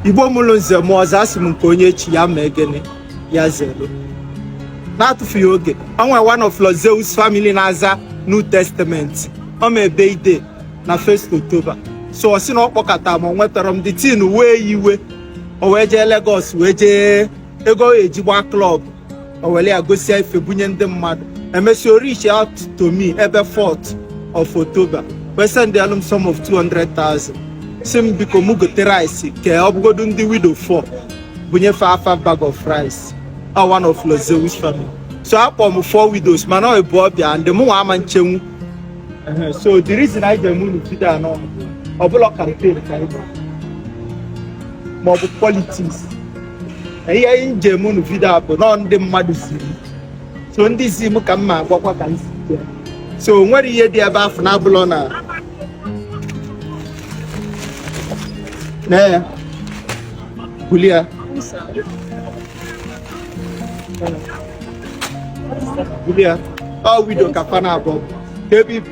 igbo mụrụ nze mụọ ọzọ asị m nke onye echi ya ma egene ya zelu na-atụfughị oge o nwe one of Lord Zeus family na-aza New Testament o me birthday na first October so ọ sị na ọ kpọkata m ma o nwetarọ m the thing wee ya iwe o wee jee Lagos wee jee ego eji gbaa club o were ya gosịa ife bunye ndị mmadụ emesịa o reach out to me ebe 4th of October wee sendelụ m sum of 200,000 sị m biko mụ gote rice kee ọ bụgodu ndị widow 4 bunye fa half bag of rice a one of Lord Zeus family so akpọ m four widows mana ọ bụ ọbịa ndị mụ nwa ama nchenwu Ehe, so the reason anyị ji eme unu video a na ọ bụrọ campaign ka anyị bụ ma ọ bụ politics ihe m ji eme unu video a bụ na ọ ndị mmadụ zi m so ndị zi m ka m ma agwakwa ka m si bịa so o nwere ihe dị ebe afụ na-abụlọ na na ya buli ya buli ya ọ widow ka fa na-abụ ka ebe ibu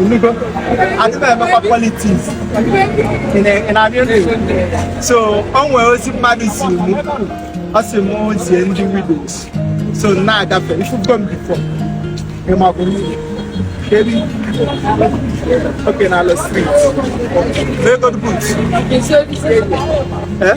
Ị nụgo, adịghị emekwa politics ị na-abịa ndụ so o nwere ozi mmadụ zi mụ ọ sị mụ zie ndị widows so na-agafe ị fụgo m before ịmakwụ kedu okay na ala street very good boot eh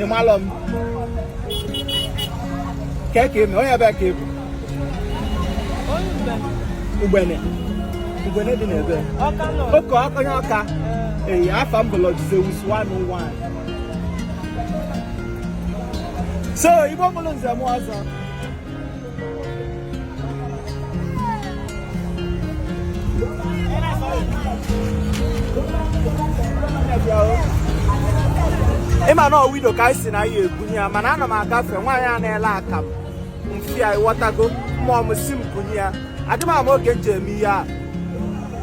ị malụ m kee ka i me onye ebee ka ị bụ ugbene ugbene dị n'ebee okay onye ọka ee afa m bụ Lord Zeus 101 so igbo mụrụ nze mụọ ọzọ ị ma na ọ widow ka anyị sị na anyị ebunye ya mana ana m agafe nwaanyị a na-ele akamụ m fụ ya ịghọtago mmụọ m sị m bunye ya adị m ama oge m ji eme ihe a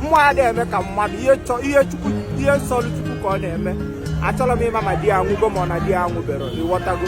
mmụọ adị eme ka mmadụ ihe chọ ihe chukwu ihe sọlụ chukwu ka ọ na-eme achọrọ m ịma ma di ya anwụgo ma ọ na di ya anwụberọ ịghọtago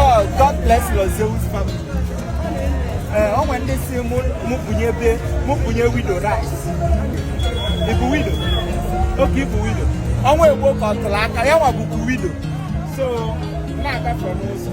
Oh, God bless Lord Zeus family. Eh, o nwere ndị sị mụ bunye ebe mụ bunye widow rice ị bụ widow okay ị bụ widow ọnwa egbo ka ọ tụrụ aka ya nwa bụkwa widow so na-agafe n'ụzọ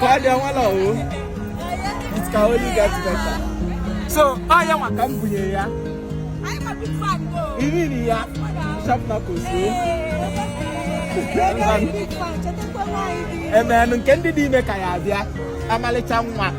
Kwadi anwala o. It can only get better. So, ọ ya nwa ka m bunye ya. Iri nri ya. Sharp na ko so. Eme m nke ndị dị ime ka ya abịa. Ọmalịcha nwa.